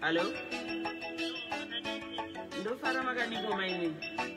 Hello? Ndofara makadiko mainini.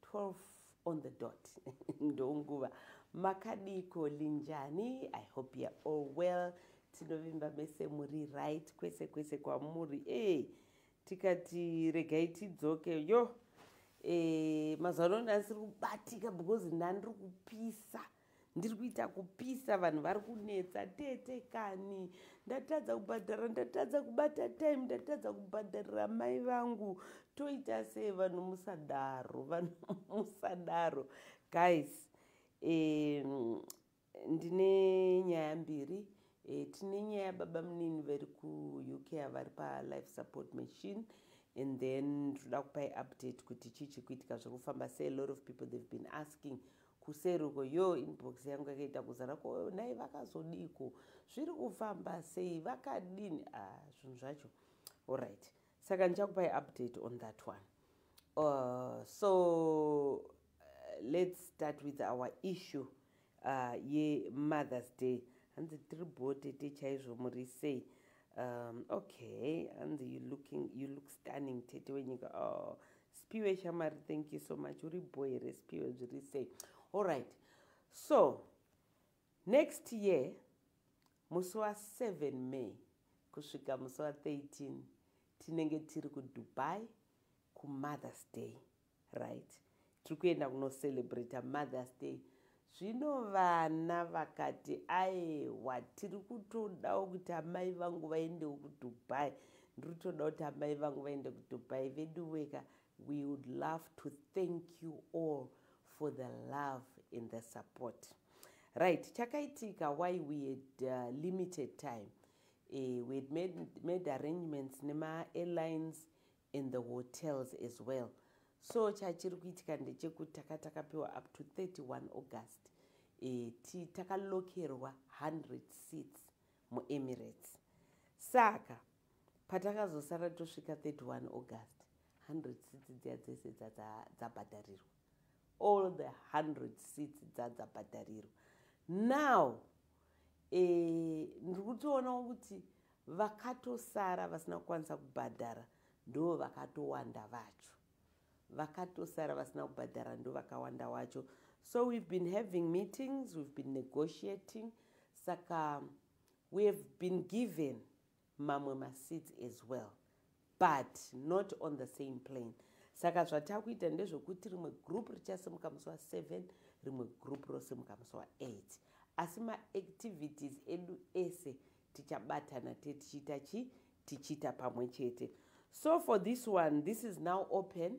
12 on the dot ndonguva makadiko linjani i hope you're all well tinovimba mese muri right kwese kwese kwamuri e hey, tikati regai tidzoke yo e, eh, mazano ndandisiri kubatika because ndandiri kupisa ndiri kuita kupisa vanhu vari kunetsa tete kani ndatadza kubhadhara ndatadza kubata time ndatadza kubhadharira mai vangu toita sei vanhu musadaro vanhu musadaro guys um, ndine nyaya mbiri e, tine nyaya yababa munini vari kuuk avari palife support machine and then toda kupai update kuti chii chikuitika zviri kufamba se a lot of people they've been asking kuseri uko yoo inbox yangu yakaita kuzara ko nhai vakazodiiko zviri kufamba sei vakadini ah, zvinhu zvacho allright saka ndichakupai update on that one uh, so uh, let's start with our issue uh, yemothers day hanzi tiri bho tete chaizvo muri sei um, okay hanzi you looking you look stunning tete wenyika oh, spiwe shamari thank you so much uri bho here spiwe zviri sei allright so next year musi wa7 may kusvika musi wa13 tinenge tiri kudubai kumothers day right tiri kuenda kunocelebrata mothers day Zvino vana vakati, Aewa, tiri kutodawo kuti amai vangu vaendewo kuDubai. Ndiri kutoda kuti amai vangu vaende kuDubai. Veduweka, we would love to thank you all for the love and the support. Right, chakaitika why we had uh, limited time. Uh, we had made, made arrangements nema airlines and the hotels as well so chachiri kuitika ndechekuti taka takapiwa up to 31 august e, ti takalokerwa 100 seats muemirates saka patakazosara tosvika 31 august 100 seats dziya dzese dzabhadharirwa all the 100 seats dzadzabhadharirwa now e, ndiri kutoonawo kuti Vakatosara vasina kukwanisa kubhadhara ndo vakatowanda vacho. Vakatosara vasina kubhadhara ndo vakawanda wacho. So we've been having meetings, we've been negotiating. Saka we have been given mamwe maseats as well. but not on the same plane saka zvatakuita ndezvekuti rimwe group richasimuka musi wa 7 rimwe group rosimuka musi wa 8 asi maactivities edu ese tichabatana te tichiita chi tichiita pamwe chete so for this one this is now open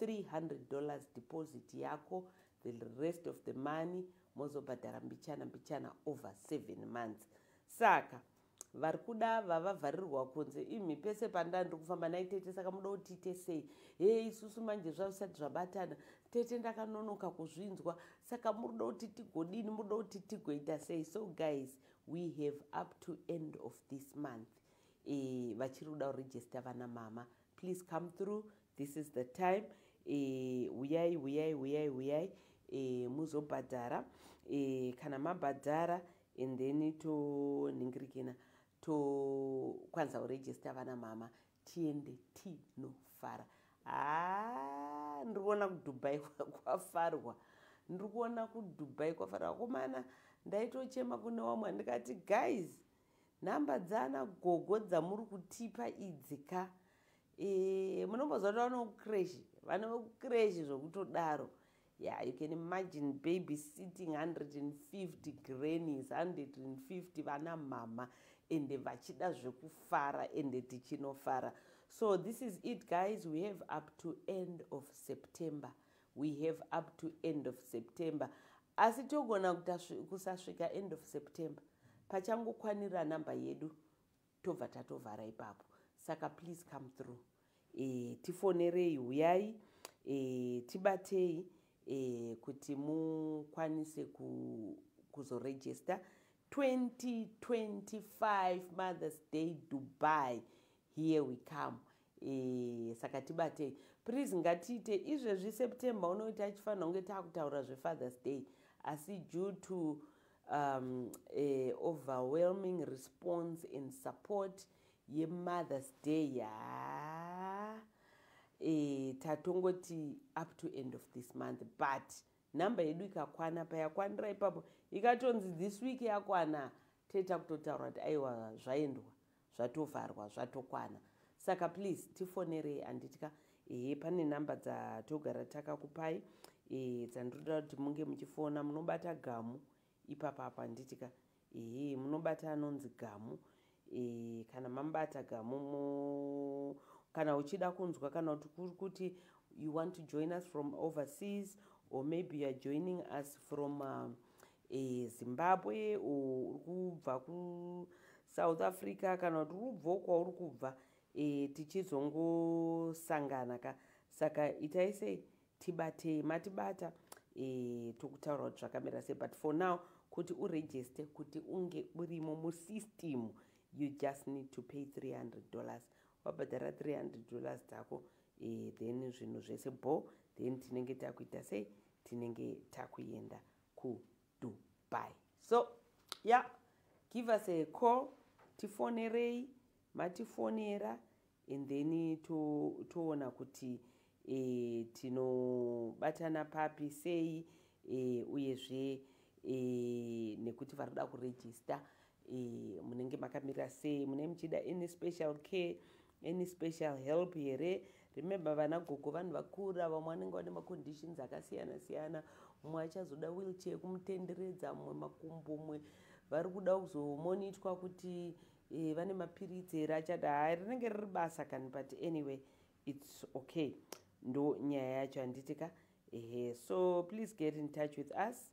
300 dollars deposit yako the rest of the money mozobhadhara mbichana mbichana over seven months saka vari kuda vavavharirwa kunze imi pese pandani ndiri kufamba nai tete saka muda kuti tiite sei hee isusu manje zvavisati zvabatana tete ndakanonoka kuzvinzwa saka muri kuda kuti tigodini muri kuda kuti tigoita sei so guys we have up to end of this month e, vachiri kuda kuregista vana mama please come through this is the time eh, huyai uh, huyai huyai huyai uh, eh, muzobhadhara uh, eh, kana mabhadhara and then toningirikina tokwanisa kuregista vana mama tiende tinofara haa ah, ndiri kuona kudubai kwafarwa ndiri kuona kudubai kwafarwa komana ndaitochema kune wamwe ndikati guys Nhamba dzana gogo dzamuri kutipa idzi ka e, munomboziva kuti vano kukreshi vane vekukreshi zvokutodaro yeah you can imagine baby sitting 150 grannies 150 vana mhama ende vachida zvekufara ende tichinofara so this is it guys we have up to end of september we have up to end of september asi togona kusasvika end of september pachangokwanira namba yedu tobva tatovhara ipapo saka please come through e, tifonerei huyai e, tibatei e, kuti mukwanise ku, kuzoregista 2025 mothers day dubai here we come Eee, saka tibatei please ngatiite izvezvi september unoti tachifanira kunge takutaura zvefathers day asi due to um, eh, overwhelming response and support yemothers day yaa eh, tatongoti up to end of this month but number yedu ikakwana payakwanira ipapo ikatonzi this week yakwana teta kutotaura kuti aiwa zvaendwa zvatovharwa zvatokwana saka please tifonerei anditya ehe pane number dzatogara takakupai e, dzandinoda kuti munge muchifona munobata gamu ipapa apa anditya ehe munobata anonzi gamu e, kana mambata gamu mo kana uchida kunzwa kana kuti kuri kuti you want to join us from overseas or maybe youare joining us from uh, e, zimbabwe or uri kubva kusouth africa kana kuti uri kubvawo kwauri kubva e, tichizongosangana ka saka itai sei tibatei matibata e, tokutaura kuti zvakamira sei but for now kuti uregiste kuti unge urimo musystem you just need to pay 300 dollars wabhadhara 300 dollars dzako e, then zvinhu zvese bho then tinenge takuita sei tinenge takuenda kudubai so ya yeah. give us a call tifonerei matifonera and then toona to kuti e, tinobatana papi sei e, uyezve e, nekuti vari kuda kurejista e, munenge makamira sei mune muchida any special care any special help here remember vana gogo vanhu vakura vamwe vanenge vane maconditions akasiyana siyana mumwe achazoda wheelchair yekumutenderedza mumwe makumbo mumwe vari kuda kuzomonitwa kuti e, vane mapiritsi here achada haa rinenge riri basa kani but anyway its okay ndo nyaya yacho handiti ka ehe so please get in touch with us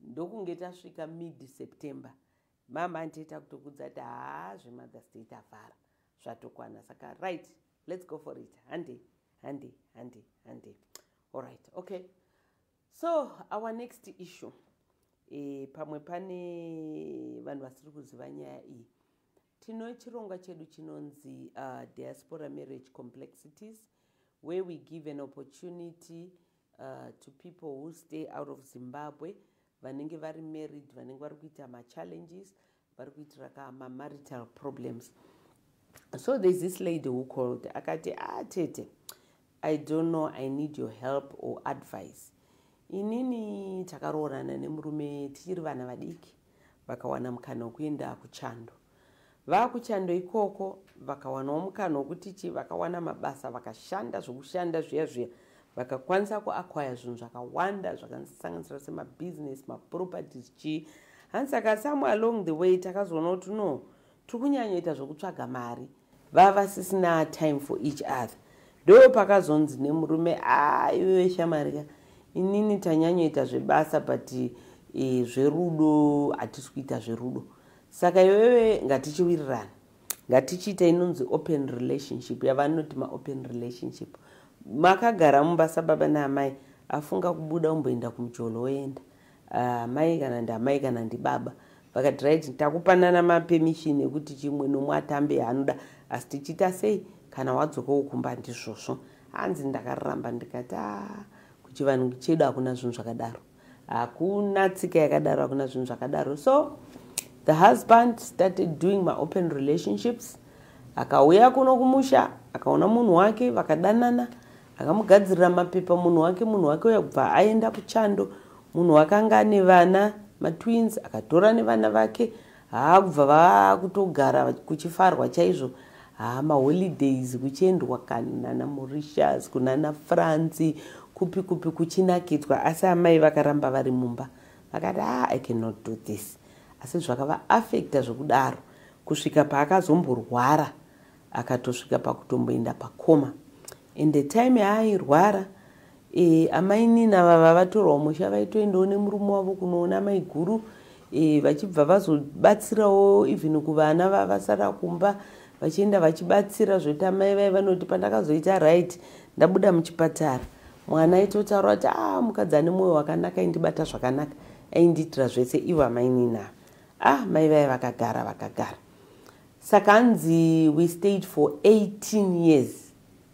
ndokunge tasvika mid september mama andiita kutokudza ti haa zvemother's day tavhara zvatokwana saka right let's go for it hande hande hande hande allright okay so our next issue e, pamwe pane vanhu vasiri kuziva nyaya iyi Tino chirongwa chedu chinonzi uh, Diaspora Marriage Complexities where we give an opportunity uh, to people who stay out of Zimbabwe vanenge vari married vanenge vari kuita machallenges vari kuitira ka mamarital problems so there's this lady who called akati ah tete I don't know I need your help or advice inini takaroorana nemurume tichiri vana vadiki vakawana mukana wekuenda kuchando vakuchando ikoko vakawanawo mukana wekuti chi vakawana mabasa vakashanda zvekushanda zviya zviya vakakwanisa kuakwaya zvinhu zvakawanda zvakasanganisira semabusiness maproperties chii hanzi saka some along the way takazoona kuti no tiri kunyanyoita zvekutsvaga mari vavasisina time for each other ndo pakazonzi nemurume aiwe shamarika inini tanyanyoita zvebasa but e, zverudo hatisi kuita zverudo saka iwewe ngatichiwirirana ngatichiita inonzi open relationship yavanoti maopen relationship makagara mumba sababa naamai afunga kubuda umboenda kumujolo woenda Ah, amai kana ndiamai kana ndibaba vakati right takupanana mapermission ekuti chimwe nomwe atambe yaanoda asi tichiita sei kana wadzokawo kumba ndizvozvo hanzi ndakaramba ndikati a ah, kuchivanhu chedu hakuna zvinhu zvakadaro hakuna tsika yakadaro hakuna zvinhu zvakadaro so the husband started doing my open relationships akauya kuno kumusha akaona munhu wake vakadanana akamugadzirira mapepa munhu wake munhu wake uya kubva aenda kuchando munhu wakanga ane vana matwins akatora nevana vake haa kubva vakutogara kuchifarwa chaizvo haa maholidays kuchiendwa kanana morishas kunana franci kupi kupi kuchinakidzwa asi amai vakaramba vari mumba vakati haa i cannot do this asi zvakavaafekta zvekudaro kusvika paakazomborwara akatosvika pakutomboenda pakoma and the time yaairwara e, amainina vava vatorwa musha vaitoendawo nemurume wavo kunoona maiguru e, vachibva vazobatsirawo even kuvana vavasara kumba vachienda vachibatsira zvekuti amai vai vanoti pandakazoita right ndabuda muchipatara mwana aitotaura kuti a ah, mukadzi ane mwoyo wakanaka aindibata zvakanaka aindiitira zvese ivo amainina ah mai vai vakagara vakagara Saka hanzi we stayed for 18 years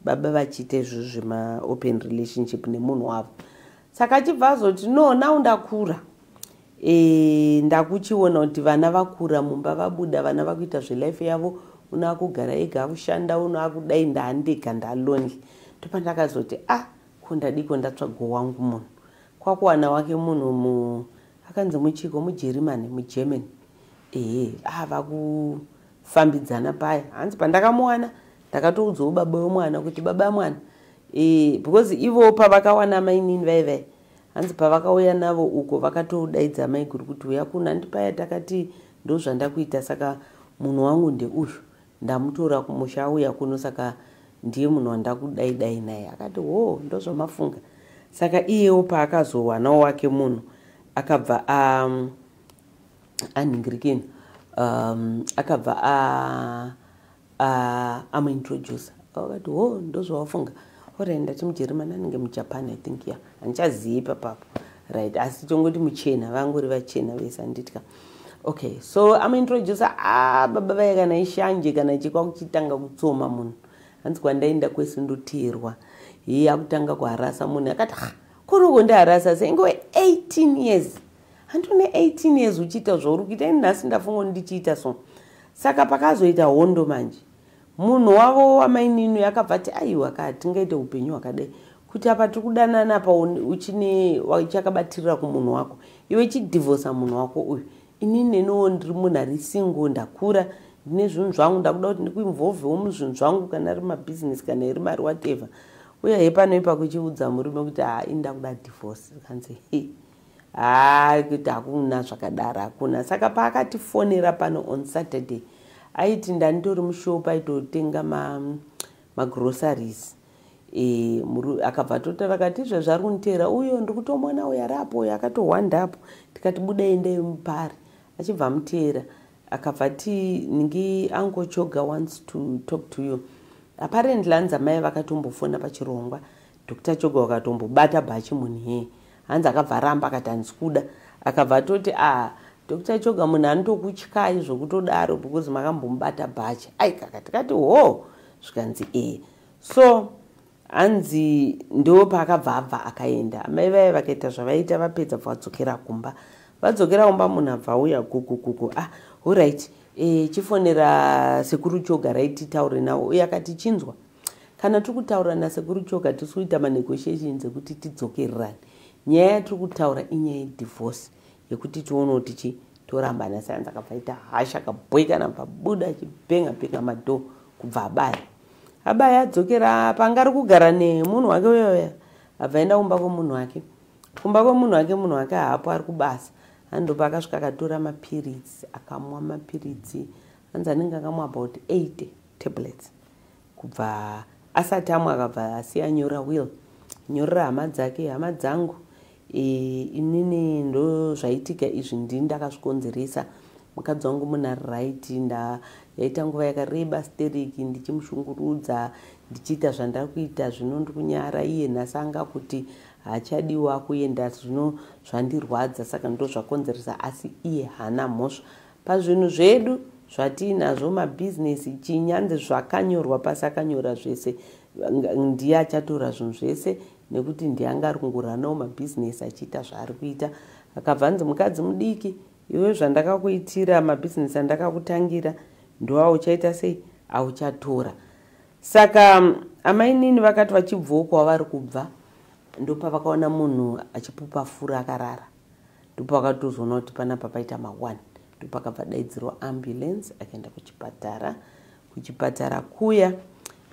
baba vachiita izvo zvemaopen relationship nemunhu wavo saka achibva azoti no now ndakura e, ndakuchiona kuti vana vakura mumba vabuda vana vakuita zvelife yavo uno akugara ega akushanda uno akudai ndaandega ndalonely ndopandakazoti a ah, ko ndadiko ndatsvago wangu munhu kwakuwana wake munhu mu akanzi muchiko mujerimani mugermany ehe ava kufambidzana paya hanzi pandakamuwana ndakatoudzawo baba wemwana kuti baba mwana e, because ivo pavakawana mainini vaivai hanzi pavakauya navo uko vakatodaidza maiguru kuti uya kuno handi paya takati ndozvandakuita saka munhu wangu ndeuyu ndamutora kumusha auya kuno saka ndiye munhu wandakudaidai naye akati hoo ndozvamafunga saka iyewo paakazowanawo wake munhu akabva um, anhingirikeni um, akabva amuintroducer akati ho oh, ndozvawafunga orai ndati mujeremani anenge mujapan i think ya handichazivi ipapapo right asi tongoti muchena vangori vachena vese handitya okay so amuintroducer a ah, baba vaye kana ishanje kana chikwa kuchitanga kutsoma munhu hanzi kwandaenda kwese ndoteerwa hii akutanga kuharasa munhu akati ha ah, kuroko ndiharasa senge we 18 years hanti une 18 years uchiita zvauri kuita ini nhasi ndafunga ndichiita so saka pakazoita hondo manje munhu wavo wamaininu yakabva ti aiwa ka tingaite upenyu hwakadai kuti apa tiri kudanana apa uchine uchakabatirira kumunhu wako iwe chidivhosa munhu wako uyu ini neniwo ndiri munhu ari single ndakura ndine zvinhu zvangu ndakuda kuti ndikuinvolvewo muzvinhu zvangu kana ari mabhizinesi kana iri mari whatever uye hepano ipa kuchiudza murume kuti haa ini ndakuda divhorce kanzi he haa kuti hakuna zvakadaro hakuna saka paakatifonera pano on saturday aiti ndanditori mushopa aitotenga magroceries ma e, akabva atotara akati izvezvi ari kunditeera uyo ndiri kutomona uyo ari apo uyo akatohwanda apo tikati buda enda yemupari achibva amuteera akabva ti ningi ango choga wants to talk to you apparently anzi amai vakatombofona pachirongwa Doctor Choga wakatombobata bhachi munhu hee hanzi akabva aramba akati hanzi kuda akabva atoti ah Doctor Choga munhu anotokutyayi zvokutodaro because makambomubata bhachi ai kaka tikati hoo zvikanzi ee so hanzi ndo paakabva abva akaenda amai vaye vakaita zvavaita vapedza bva vadzokera kumba vadzokera kumba munhu abva auya kukukuku ah horit e, eh, chifonera sekuru choga raiti taure nawo uye akati chinzwa Kana tiri kutaura nasekuru choka tiri kuita manegotiation dzekuti tidzokererane nyaya yatiri kutaura inyaya yedivorce yekuti tionewo tichi torambana sayanzi akabva aita hasha akabhoikana bva buda achibhenga bhenga madhoo kubva abaya abaya adzokera panga ari kugara nemunhu wake uyoya abva aenda kumba kwemunhu wake kumba kwemunhu wake munhu wake haapo ari kubasa andopa akasvika akatora mapiritsi akamwa mapiritsi anzi anenge akamwa about 80 tablets kubva asati amwe akabva asiya nyora will nyorera hama dzake hama dzangu e, inini ndo zvaitika izvi ndini ndakazvikonzeresa mukadzi wangu munhu ari right nda yaita nguva yakareba steriki ndichimushungurudza ndichiita zvandari kuita zvino ndi kunyara iye nhasi anga kuti hachadiwa kuenda zvino zvandirwadza saka ndo zvakonzeresa asi iye haana mhosva Pazvinhu zvedu zvatiinazvo mabhizinesi chinyanzi zvakanyorwa pasi akanyora zvese ndiye achatora zvinhu zvese nekuti ndiye anga ari kungoranawo mabhizinesi achiita zvaari kuita akabva anzi mukadzi mudiki iwe zvandakakuitira mabhizinesi andakakutangira ndoauchaita sei auchatora saka mm, amainini vakati vachibvawo kwavari kubva ndopavakaona munhu achipupa fura akarara ndipo akatozoona kuti panapa paita mawani ndipo akabva daidzirwa ambulance akaenda kuchipatara kuchipatara kuya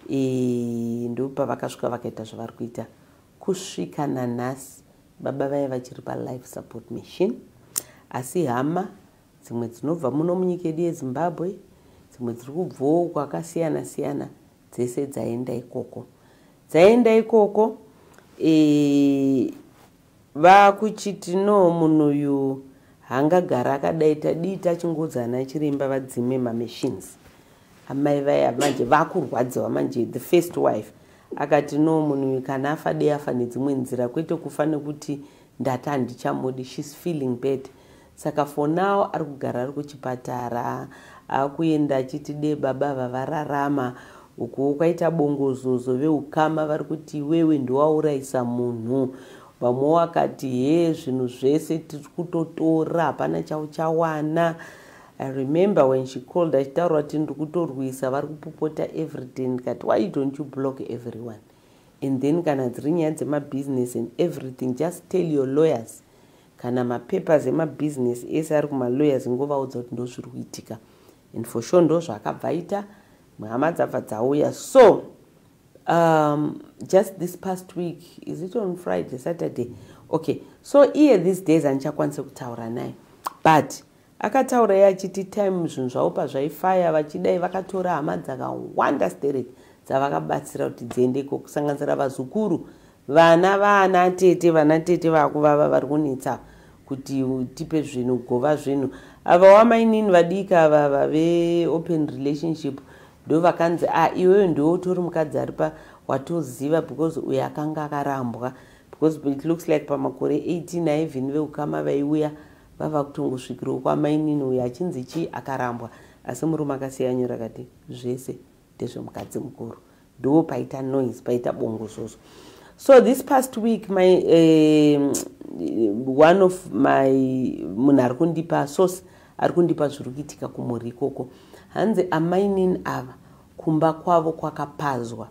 e, ndipo pavakasvika vakaita zvavari kuita kusvika nanhasi baba vaye vachiri palife support machine asi hama dzimwe dzinobva muno munyika yedu yezimbabwe dzimwe dziri kubvawo kwakasiyana siyana dzese dzaenda ikoko dzaenda ikoko e, Vakuchiti no munhu uyu hangagara akadai tadii tachingoudza ana chiremba vadzime mamachines amai vaya manje vakurwadziwa manje the first wife akati no munhu uyu kana afa dei afa nedzimwe nzira kwete kufa nekuti ndati handichamudi shes feeling bad saka for now ari kugara ari kuchipatara akuenda achiti de baba ava vararama ukuwo kwaita bongozozo veukama vari kuti iwewe ndiwaurayisa munhu vamwe wakati he zvinhu zvese tiri kutotora hapana chauchawana i remember when she called achitaura kuti ndiri kutorwisa vari kupopota everyday ndikati why you don't you block everyone and then kana dziri nyaya dzemabhiziness and everything just tell your lawyers kana mapapers emabusiness ese ari kumalawyers ingovaudza kuti ndozviri kuitika and for sure ndo zvaakabva aita hama dzabva dzauya so um, just this past week is it on friday saturday okay so iye these days andichakwanise kutaura naye but Akataura iye achiti time zvinhu zvavo pazvaifaya vachidai vakatora hama dzakawanda stereki dzavakabatsira kuti dziende ikoko kusanganisira vazukuru vana vaana tete vana tete vakuvava vari kunetsa kuti tipe zvinhu gova zvinhu ava wamainini vadiki ava vave open relationship ndo vakanzi a ah, iweyo ndiwe utori mukadzi ari pa watoziva because uyo akanga akarambwa because it looks like pamakore 18 aivhini veukama vaiuya vava kutongosvikirawo kwamainini uyo achinzi chii akarambwa asi murume akasiya nyora kati zvese ndezvemukadzi mukuru ndiwo paita noise paita bongo zvozo so this past week my uh, one of my munhu ari kundipa source ari kundipa zviri kuitika kumhuri ikoko hanzi amainini ava kumba kwavo kwakapazwa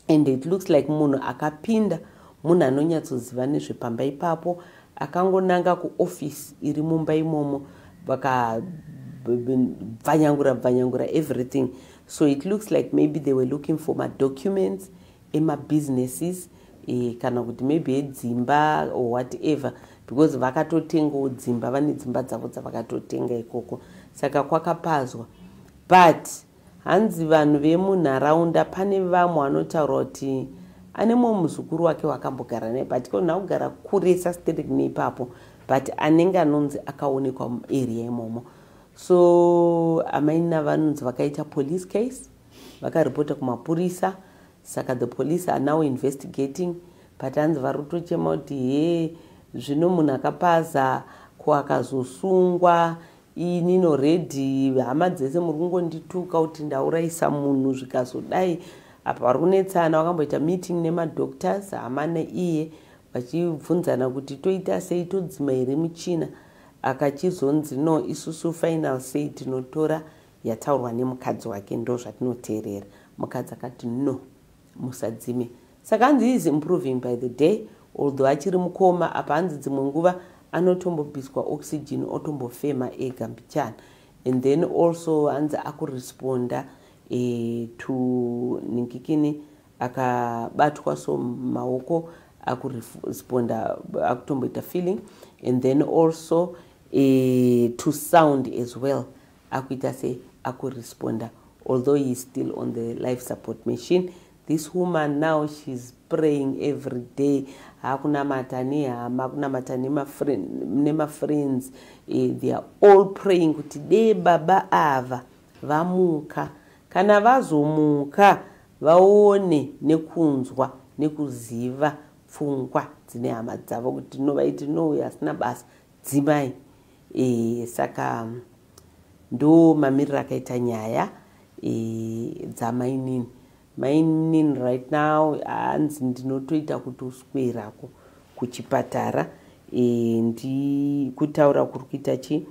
and it looks like munhu akapinda munhu anonyatsoziva nezvepamba ipapo akangonanga kuoffice iri mumba imomo vakabvanyangura bvanyangura everything so it looks like maybe they were looking for madocuments emabusinesses e, kana kuti maybe edzimba or whatever because vakatotengawo dzimba vane dzimba dzavo dzavakatotenga ikoko saka kwakapazwa but Hanzi vanhu vemunharaunda pane vamwe vanotaura kuti ane mumwe muzukuru wake wakambogara naye but ko nakugara kuresa sterek neipapo but anenge anonzi akaonekwa muarea imomo so amaina vanonzi vakaita police case vakaripota kumapurisa saka the police are now investigating but hanzi vari kutochema kuti hee zvino munhu akapaza ko akazosungwa inini already hama dzese muri kungondituka kuti ndaurayisa munhu zvikazodai apa vari kunetsana vakamboita meeting nemadoctors hama neiye vachibvunzana kuti toita sei todzima here muchina akachizonzi no isusu final sei tinotora yataurwa nemukadzi wake ndo zvatinoteerera mukadzi akati no musadzime saka hanzi he is improving by the day although achiri mukoma apa hanzi dzimwe nguva anotombobviswa oxygen otombofema ega mbichana and then also hanzi akuresponda e, to ninkikini akabatwa so maoko akuresponda akutomboita feeling and then also e, to sound as well akuita se akuresponder although he is still on the life support machine this woman now sheis praying every day hakunamata nehama kunamata nemafriends eh, they are all praying kuti dee baba ava vamuka kana vazomuka vaone nekunzwa nekuziva pfungwa dzine hama dzavo kuti tinovaiti no uyo asina basa dzimai e, saka ndo mamiriro akaita nyaya e, dzamainini mainin right now hanzi ndinotoita kuti uswerako kuchipatara e, ndi kutaura kuri kuita chi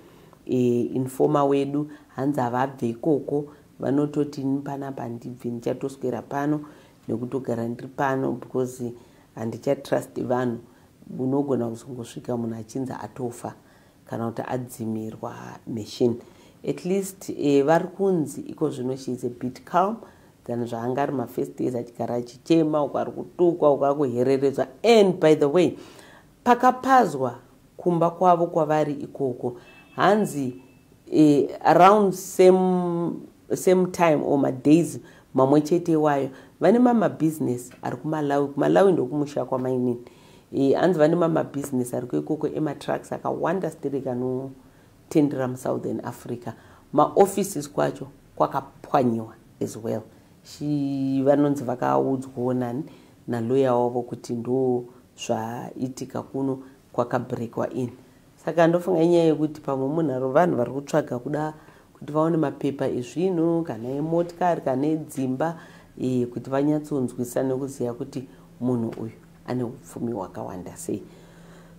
e, informa wedu hanzi havabve ikoko vanototi ini panapa ndibve ndichatoswera pano nekutogara ndiri pano because handichatrust vanhu unogona kuzongosvika munhu achinzi atofa kana kuti adzimirwa machine at least eh, vari kunzi iko zvino she is a bit calm than zvaanga ari mafirst days achigara achichema uko ari kutukwa uko akuhereredzwa and by the way Pakapazwa kumba kwavo kwavari ikoko hanzi eh, around same, same time or madays mamwe chete iwayo vane mamabusiness ari kumalawi kumalawi ndokumusha kwamainini e, anzi vane mamabusiness ari kuikoko ematrucks akawanda sterek anotendera musouthern africa maoffices kwacho kwakapwanyiwa as well vanonzi vakaudzwawo nani naloya wavo kuti ndo zvaitika kuno kwakabreakwa in saka ndofunga inyaya yekuti pamwe munharo vanhu vari kutsvaga kuda kuti vaone mapepa ezvinhu kana emotikari kana edzimba e, kuti vanyatsonzwisa nekuziva kuti munhu uyu ane upfumi hwakawanda sei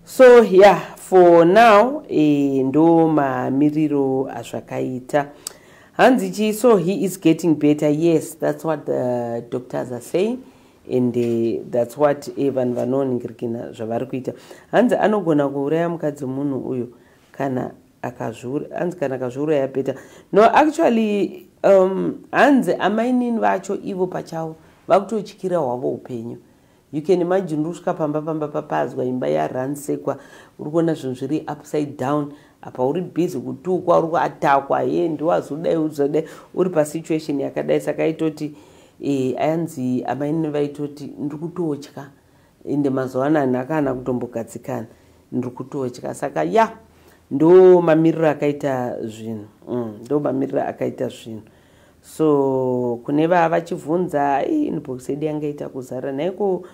so ya yeah, for now e, ndo mamiriro azvakaita hanzi chii so he is getting better yes that's what the doctors are saying and uh, that's what eh, vanhu uh, vanoningirikina zvavari kuita hanzi anogona kuuraya mukadzi munhu uyo kana hanzi kana akazviuraya beta no actually um, hanzi amainini vacho ivo pachavo vakutotyira hwavo upenyu you can imagine uri kusvika pamba pamba papazwa imba yaransekwa uri kuona zvinhu zviri upside down apa uri busy kutukwa uri kuatakwa ye ndiwazodai uzodai uri pasituation yakadai saka aitoti e, ayanzi amaine vaitoti ndiri kutotya ende mazuva ano anhu akaana kutombogadzikana ndiri kutotya saka ya yeah ndo mamiriro akaita zvinhu mm, ndo mamiriro akaita zvinhu so kune vavachivhunza inbox yedu yanga ita kuzara nhaiko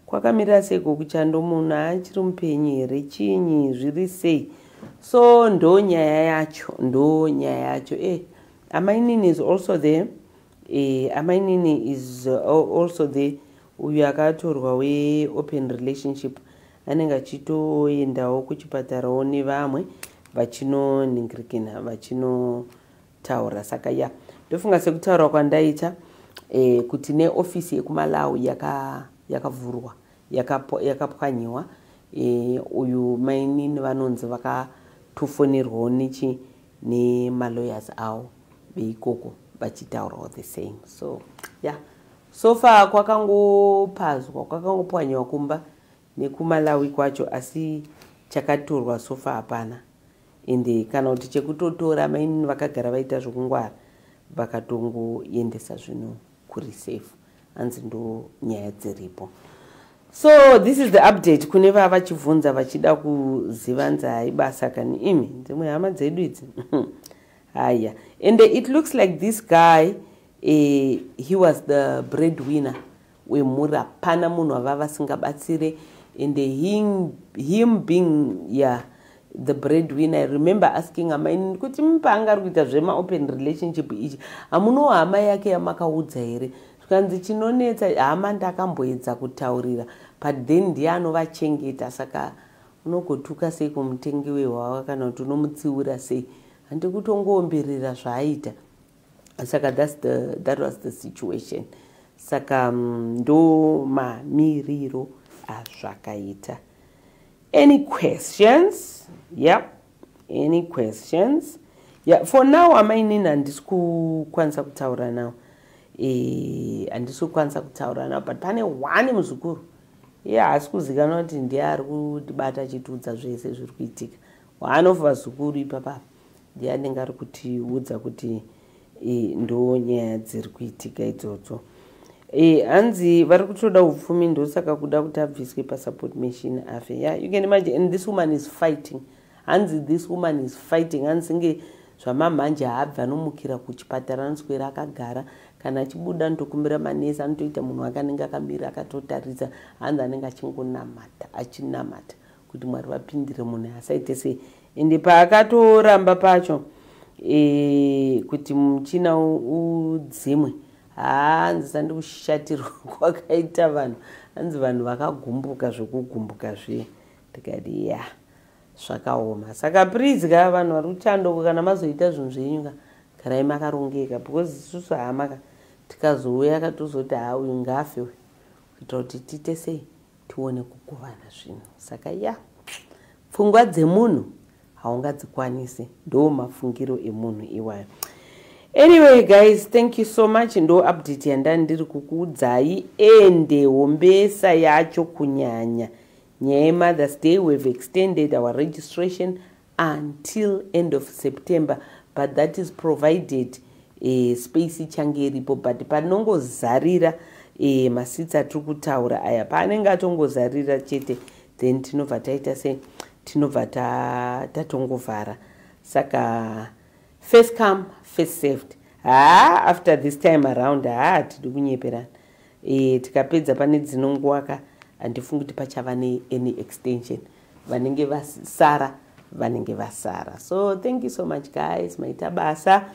kwakamirira seiko kuchando munhu achiri mupenyu here chinyi zviri sei so ndo nyaya yacho ndo nyaya yacho e eh, amainini is also there e amainini is uh, also there uyu akatorwa weopen relationship anenge achitoendawo kuchipatarawo nevamwe vachinoningirikina vachino taura saka ya yeah. ndofunga sekutaura kwandaita eh, kuti neofisi yekumalawi yakavhurwa yaka yakapwanyiwa yaka eh, uyu mainini vanonzi vakatofonerwawo nechi nemalawyers avo veikoko vachitaurawo the same so ya yeah. so far kwakangopazwa kwakangopwanyiwa kumba nekumalawi kwacho asi chakatorwa so far hapana ende kana kuti chekutotora mainini vakagara vaita zvokungwara vakatongoendesa zvinhu kureserve hanzi ndo nyaya dziripo so this is the update kune vava vachibvunza vachida kuziva nzi hai basa kani imi dzimwe hama dzedu idzi haya ende it looks like this guy eh, he was the bread winner wemhuri hapana munhu ava vasingabatsire and him, him being yeah, the bread winner i remember asking amai kuti paanga ari kuita zvemaopen relationship ichi hamunowo hama yake yamakaudza here zvikanzi chinonetsa hama ndakamboedza kutaurira but then ndiye anovachengeta saka unogotuka sei kumutengi wehwawa kana kuti unomutsiura sei handikutongoomberera zvaaita saka that's the, that was the situation saka mm, ndo mamiriro azvakaita any questions yep any questions yeah, for now amainini handisi kukwanisa kutaura now eh, handisi kukwanisa kutaura now but pane one muzukuru iye yeah, haasi kuzikanwa kuti ndiye ari kutibata achitiudza zvese zviri kuitika one of vazukuru ipapapa ndiani ngari kutiudza kuti e, ndo nyaya dziri kuitika idzodzo e, hanzi vari kutoda upfumi ndosaka kuda kuti abviswe pasupport machine afe ya yeah, you can imagine and this woman is fighting hanzi this woman is fighting hanzi nge zvamamhanje haabvi anomukira kuchipatara anoswera akagara kana achibuda anotokumbira manesi anotoita munhu wake anenge akamira akatotaridza hanzi anenge achingonamata achinamata kuti mwari vapindire munhu asaite se ende paakatoramba pacho e, kuti muchina udzimwe hanzi sandikushatirwa kwakaita vanhu hanzi vanhu vakagumbuka zvekugumbuka zviye ndikati ya zvakaoma saka prizi ka vanhu vari kuchandoko kana mazoita zvinhu zvenyu ka garai makarongeka because isusu hamaka tikazouya katozoti ha uyu ngafe uyu kuitira kuti tiite sei tione kugovana zvinhu saka ya pfungwa dzemunhu haungadzikwanisi ndo mafungiro emunhu iwayo anyway guys thank you so much ndo update yandani ndiri kukuudzai ende hombesa yacho kunyanya nyaya yemothers day we've extended our registration until end of september but that is provided eh, space ichange iripo but panongozarira eh, masitsi atiri kutaura aya paanenge atongozarira chete then tinobva taita se tinobva tatongovhara ta saka first come first saved haa after this time around haa hatidi kunyeperana e, tikapedza pane dzinonguwaka handifungi kuti pachava neany extension vanenge vasara vanenge vasara so thank you so much guys maita basa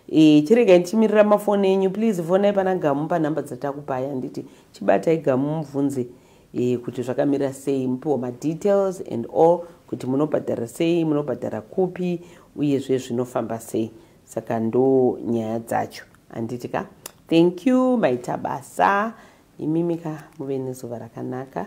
e, chiregai ndichimirira mafoni enyu please fonai pana gamu panhamba dzatakupai handiti chibatai gamu mubvunze e, kuti zvakamira sei mupiwa madetails and all kuti munobhadhara sei munobhadhara kupi uyezve zvinofamba sei saka ndo nyaya dzacho handiti ka thank you maita basa imimi ka muve nezuva rakanaka